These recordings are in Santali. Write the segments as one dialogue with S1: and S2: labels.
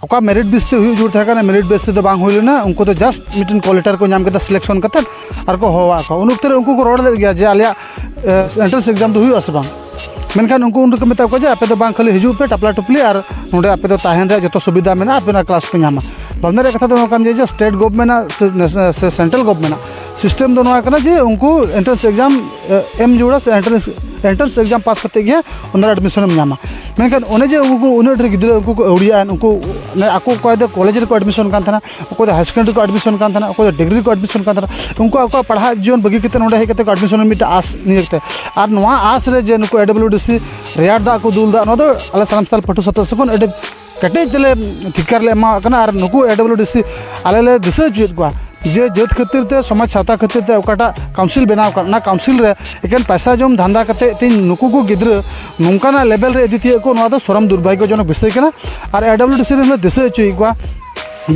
S1: ᱚᱠᱟ ᱢᱮᱨᱤᱴ ᱵᱮᱥ ᱛᱮ ᱦᱩᱭᱩᱜ ᱡᱩᱨ ᱛᱟᱦᱮᱸ ᱠᱟᱱᱟ ᱢᱮᱨᱤᱴ ᱵᱮᱥ ᱛᱮᱫᱚ ᱵᱟᱝ ᱦᱩᱭ ᱞᱮᱱᱟ ᱩᱱᱠᱩ ᱫᱚ ᱡᱟᱥᱴ ᱢᱤᱫᱴᱮᱱ ᱠᱚᱞ ᱞᱮᱴᱟᱨ ᱠᱚ ᱧᱟᱢ ᱠᱮᱫᱟ ᱥᱤᱞᱮᱠᱥᱚᱱ ᱠᱟᱛᱮ ᱟᱨ ᱠᱚ ᱦᱚᱦᱚᱣᱟᱜ ᱠᱚᱣᱟ ᱩᱱ ᱚᱠᱛᱮ ᱨᱮ ᱩᱱᱠᱩ ᱠᱚ ᱨᱚᱲ ᱞᱮᱫ ᱜᱮᱭᱟ ᱡᱮ ᱟᱞᱮᱭᱟᱜ ᱮᱱᱴᱨᱟᱱᱥ ᱮᱠᱡᱟᱢ ᱫᱚ ᱦᱩᱭᱩᱜᱼᱟ ᱥᱮ ᱵᱟᱝ ᱢᱮᱱᱠᱷᱟᱱ ᱩᱱᱠᱩ ᱩᱱ ᱨᱮᱠᱚ ᱢᱮᱛᱟ ᱠᱚᱣᱟ ᱡᱮ ᱟᱯᱮ ᱫᱚ ᱵᱟᱝ ᱠᱷᱟᱹᱞᱤ ᱦᱤᱡᱩᱜ ᱯᱮ ᱴᱟᱯᱞᱟ ᱴᱩᱯᱞᱤ ᱟᱨ ᱱᱚᱰᱮ ᱟᱯᱮ ᱫᱚ ᱛᱟᱦᱮᱱ ᱨᱮᱭᱟᱜ ᱡᱚᱛᱚ ᱥᱩᱵᱤᱫᱷᱟ ᱢᱮᱱᱟᱜᱼᱟ ᱟᱯᱮ ᱚᱱᱟ ᱠᱞᱟᱥ ᱯᱮ ᱧᱟᱢᱟ ᱵᱟᱢᱱᱟ ᱨᱮᱭᱟᱜ ᱠᱟᱛᱷᱟ ᱫᱚ ᱱᱚᱣᱟ ᱠᱟᱱ ᱜᱮᱭᱟ ᱡᱮ ᱥᱴᱮᱴ ᱜᱚᱵᱷᱢᱮᱱᱴ ᱟᱜ ᱥᱮ ᱥᱮᱱᱴᱨᱟᱞ ᱜᱚᱵᱷᱢᱮᱱᱴ ᱟᱜ ᱥᱤᱥᱴᱮᱢ ᱫᱚ ᱱᱚᱣᱟ ᱠᱟᱱᱟ ᱡᱮ ᱩᱱᱠᱩ ᱮᱱᱴᱨᱟᱱᱥ ᱮᱠᱡᱟᱢ ᱮᱢ ᱡᱩᱲᱟ ᱥᱮ ᱮᱱᱴᱨᱟᱱᱥ ᱮᱱᱴᱨᱟᱱᱥ ᱮᱠᱡᱟᱢ ᱯᱟᱥ ᱠᱟᱛᱮ ᱜᱮ ᱚᱱᱟ ᱮᱰᱢᱤᱥᱚᱱ ᱮᱢ ᱧᱟᱢᱟ ᱢᱮᱱᱠᱷᱟᱱ ᱚᱱᱮ ᱡᱮ ᱩᱱᱠᱩ ᱩᱱᱟᱹᱜ ᱰᱷᱮᱨ ᱜᱤᱫᱽᱨᱟᱹ ᱩᱱᱠᱩ ᱠᱚ ᱟᱹᱣᱲᱤᱭᱟ ᱩᱱᱠᱩ ᱟᱠᱚ ᱚᱠᱚᱭ ᱫᱚ ᱠᱚᱞᱮᱡᱽ ᱨᱮᱠᱚ ᱮᱰᱢᱤᱥᱚᱱ ᱠᱟᱱ ᱛᱟᱦᱮᱱᱟ ᱚᱠᱚᱭ ᱫᱚ ᱦᱟᱭᱟᱨ ᱥᱮᱠᱮᱱᱰᱟᱨᱤ ᱨᱮᱠᱚ ᱮᱰᱢᱤᱥᱚᱱ ᱠᱟᱱ ᱛᱟᱦᱮᱱᱟ ᱚᱠᱚᱭ ᱫᱚ ᱰᱤᱜᱽᱨᱤ ᱨᱮᱠᱚ ᱮᱰᱢᱤᱥᱚᱱ ᱠᱟᱱ ᱛᱟᱦᱮᱱᱟ ᱩᱱᱠᱩ ᱟᱠᱚᱣᱟᱜ ᱯᱟᱲᱦᱟᱜ ᱡᱤᱭᱚᱱ ᱵᱟᱹᱜᱤ ᱠᱟᱛᱮ ᱱᱚᱰᱮ ᱦᱮᱡ ᱠᱟᱛᱮ ᱠᱚ ᱮᱰᱢᱤᱥᱚᱱ ᱢᱤᱫᱴᱟᱝ ᱟᱥ ᱱᱤᱭᱟᱹ ᱛᱮ ᱟᱨ ᱱᱚᱣᱟ ᱟᱥ ᱨᱮ ᱡᱮ ᱱᱩᱠᱩ ᱮ ᱰᱟᱵᱽᱞᱤᱭᱩ ᱰᱤ ᱥᱤ ᱨᱮᱭᱟᱲ ᱫᱟᱜ ᱠᱚ ᱫᱩᱞᱫᱟ ᱱᱚᱣᱟ ᱫᱚ ᱟᱞᱮ ᱥᱟᱱᱟᱢ ᱥᱟᱱᱛᱟᱲ ᱯᱟᱹᱴᱷᱩᱣᱟᱹ ᱥᱟᱶᱛᱟ ᱥᱮᱫ ᱠᱷᱚᱱ ᱟᱹᱰᱤ ᱠᱮᱴᱮᱡ ᱛᱮᱞᱮ ᱴᱷᱤᱠᱟᱹᱨ ᱞᱮ ᱮᱢᱟᱣᱟᱜ ᱠᱟᱱᱟ ᱟᱨ ᱱᱩᱠᱩ ᱮ ᱰᱟᱵᱞᱤᱭᱩ ᱰᱤ ᱥᱤ ᱟᱞᱮ ᱞᱮ ᱫᱤᱥᱟᱹ ᱦᱚᱪᱚᱭᱮᱫ ᱠᱚᱣᱟ ᱡᱮ ᱡᱟᱹᱛ ᱠᱷᱟᱹᱛᱤᱨ ᱛᱮ ᱥᱚᱢᱟᱡᱽ ᱥᱟᱶᱛᱟ ᱠᱷᱟᱹᱛᱤᱨ ᱛᱮ ᱚᱠᱟᱴᱟᱜ ᱠᱟᱣᱩᱱᱥᱤᱞ ᱵᱮᱱᱟᱣ ᱟᱠᱟᱱ ᱚᱱᱟ ᱠᱟᱣᱩᱱᱥᱤᱞ ᱨᱮ ᱮᱠᱮᱱ ᱯᱚᱭᱥᱟ ᱡᱚᱢ ᱫᱷᱟᱱᱫᱟ ᱠᱟᱛᱮᱫ ᱛᱮᱦᱮᱧ ᱱᱩᱠᱩ ᱠᱚ ᱜᱤᱫᱽᱨᱟᱹ ᱱᱚᱝᱠᱟᱱᱟᱜ ᱞᱮᱵᱮᱞ ᱨᱮ ᱤᱫᱤ ᱛᱤᱭᱳᱜ ᱠᱚ ᱱᱚᱣᱟ ᱫᱚ ᱥᱚᱨᱚᱢ ᱫᱩᱨᱵᱷᱟᱜᱽᱜᱚ ᱡᱚᱱᱚᱠ ᱵᱤᱥᱚᱭ ᱠᱟᱱᱟ ᱟᱨ ᱮ ᱰᱟᱵᱞᱤᱭᱩ ᱰᱤ ᱥᱤ ᱨᱮᱱ ᱞᱮ ᱫᱤᱥᱟᱹ ᱦᱚᱪᱚᱭᱮᱫ ᱠᱚᱣᱟ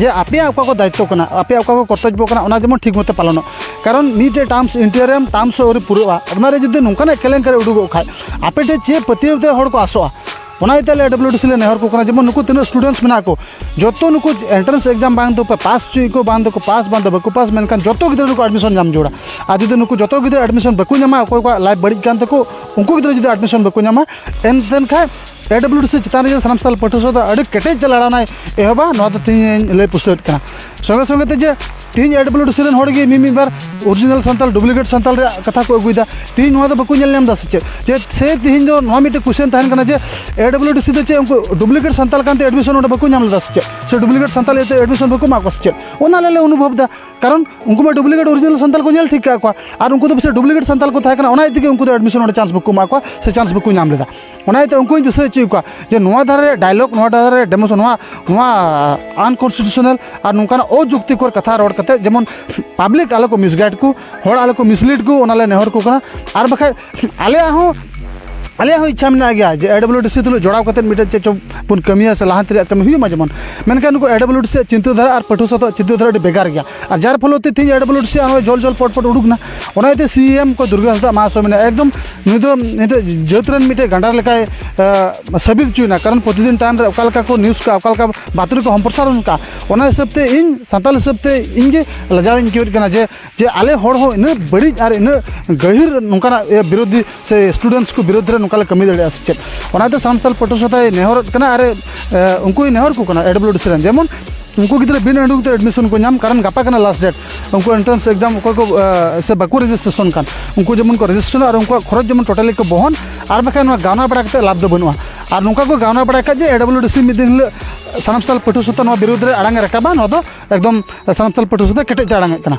S1: ᱡᱮ ᱟᱯᱮᱭᱟᱜ ᱚᱠᱟ ᱠᱚ ᱫᱟᱭᱤᱛᱛᱚ ᱠᱟᱱᱟ ᱟᱯᱮᱭᱟᱜ ᱚᱠᱟ ᱠᱚ ᱠᱚᱨᱛᱚᱵᱽᱵᱚ ᱠᱟᱱᱟ ᱚᱱᱟ ᱡᱮᱢᱚᱱ ᱴᱷᱤᱠ ᱢᱚᱛᱚ ᱯᱟᱞᱚᱱᱚᱜ ᱠᱟᱨᱚᱱ ᱢᱤᱫᱴᱮᱡ ᱴᱟᱨᱢᱥ ᱤᱱᱴᱤᱭᱟᱨᱤᱭᱟᱢ ᱴᱟᱨᱢᱥ ᱦᱚᱸ ᱟᱹᱣᱨᱤ ᱯᱩᱨᱟᱹᱜᱼᱟ ᱚᱱᱟᱨᱮ ᱡᱩᱫᱤ ᱱᱚᱝᱠᱟᱱᱟᱜ ᱠᱮᱞᱮᱝᱠᱟᱨᱤ ᱩᱰᱩᱠᱚᱜ ᱠᱷᱟᱡ ᱟᱯᱮ ᱴᱷᱮᱡ ᱪᱮᱫ ᱯᱟᱹᱛᱭᱟᱹᱣ ᱛᱮ ᱦᱚᱲ ᱠᱚ ᱟᱥᱚᱜᱼᱟ ᱚᱱᱟ ᱤᱭᱟᱹᱛᱮ ᱟᱞᱮ ᱰᱟᱵᱞᱤᱭᱩ ᱰᱤ ᱥᱤ ᱞᱮ ᱱᱮᱦᱚᱨ ᱠᱚ ᱠᱟᱱᱟ ᱡᱮᱢᱚᱱ ᱱᱩᱠᱩ ᱛᱤᱱᱟᱹᱜ ᱥᱴᱩᱰᱮᱱᱴᱥ ᱢᱮᱱᱟᱜ ᱠᱚ ᱡᱚᱛᱚ ᱱᱩᱠᱩ ᱮᱱᱴᱨᱟᱱᱥ ᱮᱠᱡᱟᱢ ᱵᱟᱝ ᱫᱚ ᱯᱟᱥ ᱦᱚᱪᱚᱭᱮᱫ ᱠᱚ ᱵᱟᱝ ᱫᱚᱠᱚ ᱯᱟᱥ ᱵᱟᱝ ᱫᱚ ᱵᱟᱠᱚ ᱯᱟᱥ ᱢᱮᱱᱠᱷᱟᱱ ᱡᱚᱛᱚ ᱜᱤᱫᱽᱨᱟᱹ ᱱᱩᱠᱩ ᱮᱰᱢᱤᱥᱚᱱ ᱧᱟᱢ ᱡᱟᱹᱨᱩᱲᱟ ᱟᱨ ᱡᱩᱫᱤ ᱱᱩᱠᱩ ᱡᱚᱛᱚ ᱜᱤᱫᱽᱨᱟᱹ ᱮᱰᱢᱤᱥᱚᱱ ᱵᱟᱠᱚ ᱧᱟᱢᱟ ᱚᱠᱚᱭ ᱠᱚᱣᱟᱜ ᱞᱟᱭᱤᱯᱷ ᱵᱟᱹᱲᱤᱡ ᱠᱟᱱ ᱛᱟᱠᱚ ᱩᱱᱠᱩ ᱜᱤᱫᱽᱨᱟᱹ ᱡᱩᱫᱤ ᱮᱰᱢᱤᱥᱚᱱ ᱵᱟᱠᱚ ᱧᱟᱢᱟ ᱮᱱᱠᱷᱟᱱ ᱮ ᱰᱟᱵᱞᱤᱭᱩ ᱰᱤ ᱥᱤ ᱪᱮᱛᱟᱱ ᱨᱮ ᱥᱟᱱᱟᱢ ᱥᱟᱞ ᱯᱟᱹᱴᱷᱩᱣᱟᱹ ᱥᱟᱶᱛᱮ ᱟᱹᱰᱤ ᱠᱮᱴᱮᱡ ᱛᱮ ᱞᱟᱲᱟᱣᱱᱟᱭ ᱮᱦᱚᱵᱟ ᱱᱚᱣᱟ ᱫᱚ ᱛᱮᱦᱮᱧ ᱞᱟᱹᱭ ᱯᱩᱥᱴᱟᱹᱣᱮᱫ ᱠᱟᱱᱟ ᱥᱚᱸᱜᱮ ᱥᱚᱸᱜᱮ ᱛᱮ ᱡᱮ ᱛᱮᱦᱮᱧ ᱮ ᱰᱟᱵᱞᱤᱭᱩ ᱰᱤ ᱥᱤ ᱨᱮᱱ ᱦᱚᱲ ᱜᱮ ᱢᱤᱫ ᱢᱤᱫ ᱵᱟᱨ ᱚᱨᱤᱡᱤᱱᱟᱞ ᱥᱟᱱᱛᱟᱲ ᱰᱩᱯᱞᱤᱠᱮᱴ ᱥᱟᱱᱛᱟᱲ ᱨᱮᱭᱟᱜ ᱠᱟᱛᱷᱟ ᱠᱚ ᱟᱹᱜᱩᱭᱮᱫᱟ ᱛᱮᱦᱮᱧ ᱱᱚᱣᱟ ᱫᱚ ᱵᱟᱠᱚ ᱧᱮᱞ ᱧᱟᱢ ᱮᱫᱟ ᱥᱮ ᱪᱮᱫ ᱡᱮ ᱥᱮ ᱛᱮᱦᱮᱧ ᱫᱚ ᱱᱚᱣᱟ ᱢᱤᱫᱴᱮᱱ ᱠᱩᱥᱪᱮᱱ ᱛᱟᱦᱮᱱ ᱠᱟᱱᱟ ᱡᱮ ᱮ ᱰᱟᱵᱞᱤᱭᱩ ᱰᱤ ᱥᱤ ᱫᱚ ᱪᱮᱫ ᱩᱱᱠᱩ ᱰᱩᱯᱞᱤᱠᱮᱴ ᱥᱟᱱᱛᱟᱲ ᱠᱟᱱᱛᱮ ᱮᱰᱢᱤᱥᱚᱱ ᱚᱸᱰᱮ ᱵᱟᱠᱚ ᱧᱟᱢ ᱞᱮᱫᱟ ᱥᱮ ᱪᱮᱫ ᱥᱮ ᱰᱩᱯᱞᱤᱠᱮᱴ ᱥᱟᱱᱛᱟᱲ ᱤᱭᱟᱹᱛᱮ ᱮᱰᱢᱤᱥᱚᱱ ᱵᱟᱠᱚ ᱮᱢᱟᱜ ᱠᱚᱣᱟ ᱥᱮ ᱪᱮᱫ ᱚᱱᱟ ᱟᱞᱮ ᱞᱮ ᱚᱱᱩᱵᱷᱚᱵᱽ ᱮᱫᱟ ᱠᱟᱨᱚᱱ ᱩᱱᱠᱩ ᱢᱟ ᱰᱩᱯᱞᱤᱠᱮᱴ ᱚᱨᱤᱡᱤᱱᱟᱞ ᱥᱟᱱᱛᱟᱲ ᱠᱚ ᱧᱮᱞ ᱴᱷᱤᱠ ᱠᱟᱜ ᱠᱚᱣᱟ ᱟᱨ ᱩᱱᱠᱩ ᱫᱚ ᱯᱟᱥᱮᱡ ᱰᱩᱯᱞᱤᱠᱮᱴ ᱥᱟᱱᱛᱟᱲ ᱠᱚ ᱛᱟᱦᱮᱸ ᱠᱟᱱᱟ ᱚᱱᱟ ᱤᱫᱤ ᱛᱮᱜᱮ ᱩᱱᱠᱩ ᱫᱚ ᱮᱰᱢᱤᱥᱚᱱ ᱚᱸᱰᱮ ᱪᱟᱱᱥ ᱵᱟᱠᱚ ᱮᱢᱟᱜ ᱠᱚᱣᱟ ᱥᱮ ᱪᱟᱱᱥ ᱵᱟᱠᱚ ᱧᱟᱢ ᱞᱮᱫᱟ ᱚᱱᱟ ᱤᱭᱟᱹᱛᱮ ᱩᱱᱠᱩᱧ ᱫᱤᱥᱟᱹ ᱦᱚᱪᱚᱭᱮᱫ ᱠᱚᱣᱟ ᱡᱮ ᱱᱚᱣᱟ ᱫᱷᱟᱨᱮ ᱨᱮᱭᱟᱜ ᱰᱟᱭᱞᱚᱜᱽ ᱱᱚᱣᱟ ᱫᱷᱟᱨᱮ ᱨᱮᱭᱟᱜ ᱰᱮᱢᱳᱥ ᱱᱚᱣᱟ ᱱᱚᱣᱟ ᱟᱱᱠᱚᱱᱥᱴᱤᱴᱤᱭᱩᱥᱚᱱᱟᱞ ᱟᱨ ᱱᱚᱝᱠᱟᱱᱟᱜ ᱚᱡᱩᱠᱛᱤᱠᱚᱨ ᱠᱟᱛᱷᱟ ᱨᱚᱲ ᱠᱟᱛᱮᱫ ᱡᱮᱢᱚᱱ ᱯᱟᱵᱽᱞᱤᱠ ᱟᱞᱚ ᱠᱚ ᱢᱤᱥᱜᱟᱭᱤᱰ ᱠᱚ ᱦᱚᱲ ᱟᱞᱚ ᱠᱚ ᱢᱤᱥᱞᱤᱰ ᱠᱚ ᱚᱱᱟᱞᱮ ᱱᱮᱦᱚᱨ ᱟᱠᱚ ᱠᱟᱱᱟ ᱟᱨ ᱵᱟᱠᱷᱟᱡ ᱟᱞᱮᱭᱟᱜ ᱦᱚᱸ ᱟᱞᱮᱭᱟᱜ ᱦᱚᱸ ᱤᱪᱪᱷᱟ ᱢᱮᱱᱟᱜ ᱜᱮᱭᱟ ᱡᱮ ᱮ ᱰᱟᱵᱽᱞᱤᱭᱩ ᱰᱤ ᱥᱤ ᱛᱩᱞᱩᱡ ᱡᱚᱲᱟᱣ ᱠᱟᱛᱮᱫ ᱢᱤᱫᱴᱮᱡ ᱪᱮᱫ ᱪᱚᱝ ᱵᱚᱱ ᱠᱟᱹᱢᱤᱭᱟ ᱥᱮ ᱞᱟᱦᱟᱱᱛᱤ ᱨᱮᱭᱟᱜ ᱠᱟᱹᱢᱤ ᱦᱩᱭᱩᱜ ᱢᱟ ᱡᱮᱢᱚᱱ ᱢᱮᱱᱠᱷᱟᱱ ᱱᱩᱠᱩ ᱮ ᱰᱟᱵᱽᱞᱤᱭᱩ ᱰᱤ ᱥᱤ ᱭᱟᱜ ᱪᱤᱱᱛᱟᱹ ᱫᱷᱟᱨᱟ ᱟᱨ ᱯᱟᱹᱴᱷᱩᱣᱟᱹ ᱥᱟᱶᱛᱮ ᱪᱤᱱᱛᱟᱹ ᱫᱷᱟᱨᱟ ᱟᱹᱰᱤ ᱵᱷᱮᱜᱟᱨ ᱜᱮᱭᱟ ᱟᱨ ᱡᱟᱨ ᱯᱷᱚᱞᱚᱛᱮ ᱛᱮᱦᱮᱧ ᱮ ᱰᱟᱵᱽᱞᱤᱭᱩ ᱰᱤ ᱥᱤ ᱭᱟᱜ ᱦᱚᱸᱜᱼᱚᱭ ᱡᱚᱞ ᱡᱚᱞ ᱯᱚᱴ ᱯᱚᱴ ᱩᱰᱩᱠ ᱮᱱᱟ ᱚᱱᱟ ᱤᱭᱟᱹᱛᱮ ᱥᱤ ᱮᱢ ᱠᱚ ᱫᱩᱨᱜᱟᱹ ᱦᱟᱸᱥᱫᱟ ᱢᱟᱦᱟᱥ ᱦᱚᱸ ᱢᱮᱱᱟᱭᱟ ᱮᱠᱫᱚᱢ ᱱᱩᱭ ᱫᱚ ᱱᱤᱛᱚᱜ ᱡᱟᱹᱛ ᱨᱮᱱ ᱢᱤᱫᱴᱮᱡ ᱜᱟᱸᱰᱟᱨ ᱞᱮᱠᱟᱭ ᱥᱟᱹᱵᱤᱛ ᱦᱚᱪᱚᱭᱮᱱᱟ ᱠᱟᱨᱚᱱ ᱯᱨᱚᱛᱤᱫᱤᱱ ᱴᱟᱭᱤᱢ ᱨᱮ ᱚᱠᱟ ᱞᱮᱠᱟ ᱠᱚ ᱱᱤᱭᱩᱡᱽ ᱠᱟᱜᱼᱟ ᱚᱠᱟ ᱞᱮᱠᱟ ᱵᱟᱛᱨᱤ ᱠᱚ ᱥᱚᱢᱯᱨᱚᱥᱟᱨᱚᱱ ᱠᱟᱜᱼᱟ ᱚᱱᱟ ᱦᱤᱥᱟᱹᱵ ᱛᱮ ᱤᱧ ᱥᱟᱱᱛᱟᱲ ᱦᱤᱥᱟᱹᱵ ᱛᱮ ᱤᱧ ᱜᱮ ᱞᱟᱡᱟᱣ ᱤᱧ ᱟᱹᱭᱠᱟᱹᱣᱮᱫ ᱠᱟᱱᱟ ᱡᱮ ᱡᱮ ᱟᱞᱮ ᱦᱚᱲ ᱦᱚᱸ ᱩᱱᱟᱹᱜ ᱵᱟᱹᱲᱤᱡ ᱟᱨ ᱩᱱᱟᱹᱜ ᱜᱟᱹᱦᱤᱨ ᱱᱚᱝᱠᱟᱱᱟᱜ ᱵᱤᱨᱳᱫᱷᱤ ᱥᱮ ᱥᱴᱩᱰᱮᱱᱴᱥ ᱠᱚ ᱵᱤᱨᱩᱫᱷ ᱨᱮ ᱱᱚᱝᱠᱟ ᱞᱮ ᱠᱟᱹᱢᱤ ᱫᱟᱲᱮᱭᱟᱜᱼᱟ ᱥᱮ ᱪᱮᱫ ᱚᱱᱟᱛᱮ ᱥᱟᱱᱛᱟᱞ ᱯᱟᱹᱴᱷᱩᱣᱟᱹ ᱥᱟᱶᱛᱟᱭ ᱱᱮᱦᱚᱨᱚᱜ ᱠᱟᱱᱟ ᱟᱨ ᱩᱱᱠᱩᱭ ᱱᱮᱦᱚᱨ ᱠᱚ ᱠᱟᱱᱟ ᱮᱰ ᱵᱞᱩ ᱰᱤ ᱥᱤ ᱨᱮᱱ ᱡᱮᱢᱚᱱ ᱩᱱᱠᱩ ᱜᱤᱫᱽᱨᱟᱹ ᱵᱤᱱ ᱩᱰᱩᱠ ᱛᱮ ᱮᱰᱢᱤᱥᱚᱱ ᱠᱚ ᱧᱟᱢ ᱠᱟᱨᱚᱱ ᱜᱟᱯᱟ ᱠᱟᱱᱟ ᱞᱟᱥᱴ ᱰᱮᱴ ᱩᱱᱠᱩ ᱮᱱᱴᱨᱟᱱᱥ ᱮᱠᱡᱟᱢ ᱚᱠᱚᱭ ᱠᱚ ᱥᱮ ᱵᱟᱠᱚ ᱨᱮᱡᱤᱥᱴᱨᱮᱥᱚᱱ ᱠᱟᱱ ᱩᱱᱠᱩ ᱡᱮᱢᱚᱱ ᱠᱚ ᱨᱮᱡᱤᱥᱴᱨᱮᱥᱚᱱ ᱟᱨ ᱩᱱᱠᱩᱣᱟᱜ ᱠᱷᱚᱨᱚᱪ ᱡᱮᱢᱚᱱ ᱴᱳᱴᱟᱞᱤ ᱠᱚ ᱵᱚᱦᱚᱱ ᱟᱨ ᱵᱟᱠᱷᱟᱱ ᱱᱚᱣᱟ ᱜᱟᱣᱱᱟ ᱵᱟᱲᱟ ᱠᱟᱛᱮᱫ ᱞᱟᱵᱷ ᱫᱚ ᱵᱟᱹᱱᱩᱜᱼᱟ ᱟᱨ ᱱᱚᱝᱠᱟ ᱠᱚ ᱜᱟᱣᱱᱟ ᱵᱟᱲᱟᱭ ᱠᱷᱟᱡ ᱡᱮ ᱮ ᱰᱟᱵᱽᱞᱤᱭᱩ ᱰᱤ ᱥᱤ ᱢᱤᱫ ᱫᱤᱱ ᱦᱤᱞᱳᱜ ᱥᱟᱱᱟᱢ ᱥᱟᱱᱛᱟᱲ ᱯᱟᱹᱴᱷᱩᱣᱟᱹ ᱥᱟᱶᱛᱮ ᱱᱚᱣᱟ ᱵᱤᱨᱩᱫᱷ ᱨᱮ ᱟᱲᱟᱝ ᱮ ᱨᱟᱠᱟᱵᱟ ᱱᱚᱣᱟ ᱫᱚ ᱮᱠᱫᱚᱢ ᱥᱟᱱᱛᱟᱲ ᱯᱟᱹᱴᱷᱩᱣᱟᱹ ᱥᱟᱶᱛᱮ ᱠᱮᱴᱮᱡ ᱛᱮ ᱟᱲᱟᱝ ᱮᱜ ᱠᱟᱱᱟ